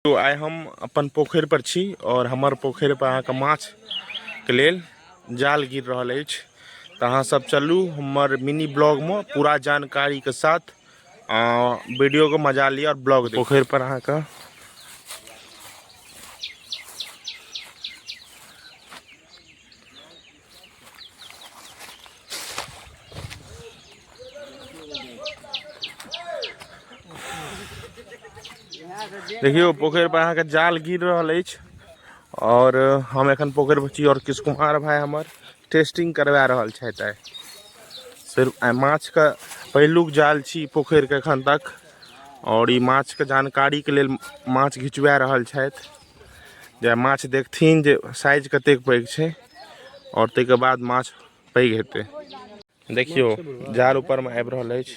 तो आइ हम अपन पोखरि पर छी और हमर पोखरि पर अहाँके माछ के लेल जाल गिर रहल अछि तऽ अहाँ सब चलू हमर मिनी ब्लॉग में पूरा जानकारी के साथ वीडियो के मजा लिअ और ब्लॉग पोखरि पर अहाँके देखियो पोखर पर अहाँ के जाल गिर रहल अछि और हम एखन पोखर पर छी और किस कुमार भाई हमर टेस्टिंग करवा रहल छथि आइ सिर्फ आइ माछ के पहिलुक जाल छी पोखर के एखन तक और ई माछ के जानकारी के लेल माछ घिचवा रहल छथि जे माछ देखथिन जे साइज कतेक पैघ छै आओर ताहिके बाद माछ पैघ हेतै देखियौ जाल ऊपरमे आबि रहल अछि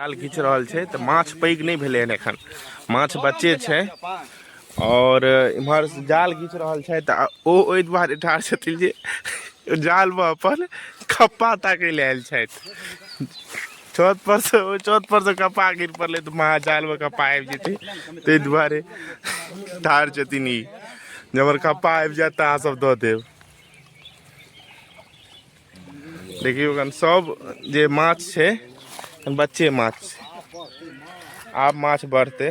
जाल घीच रहल छै तऽ माछ पैघ नहि भेलै हन एखन माछ बच्चे छै आओर इम्हर जाल घीच रहल छै तऽ ओ ओहि दुआरे ठाढ़ छथिन जे जालमे अपन खप्पा ताकै लए आयल छथि छत पर से ओ छत पर से कपा गिर पड़ले तो महाजाल में कपा आबि जेतै ताहि दुआरे ठाढ़ छथिन ई जे हमर कपा आबि जायत तऽ अहाँ सब दऽ देब देखियौ एखन सब जे माछ छै एखन बच्चे माछ छै आब माछ बढ़तै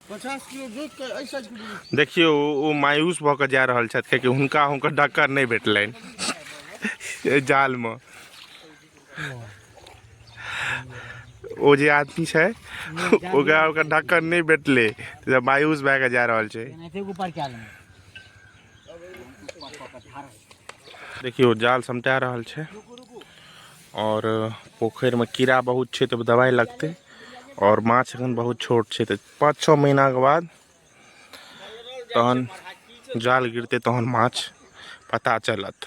पचास किलो जोत के ऐसा किलो देखियो ओ- ओ मायूस भऽ कऽ जा रहल छथि कियाकि हुनका हुनकर डक्कर नहि भेटलनि एहि जालमे ओ जे आदमी छै ओकरा ओकर ढक्कन नहि भेटलै तऽ मायूस भए कऽ जा रहल छै एनाहिते ऊपर कए लेबै देखियौ जाल समटा रहल छै और पोखर में कीड़ा बहुत छे तो दवाई लगते और माछ अखन बहुत छोट छे तो पाँच छः महीना के बाद तहन जाल गिरते तहन माछ पता चलत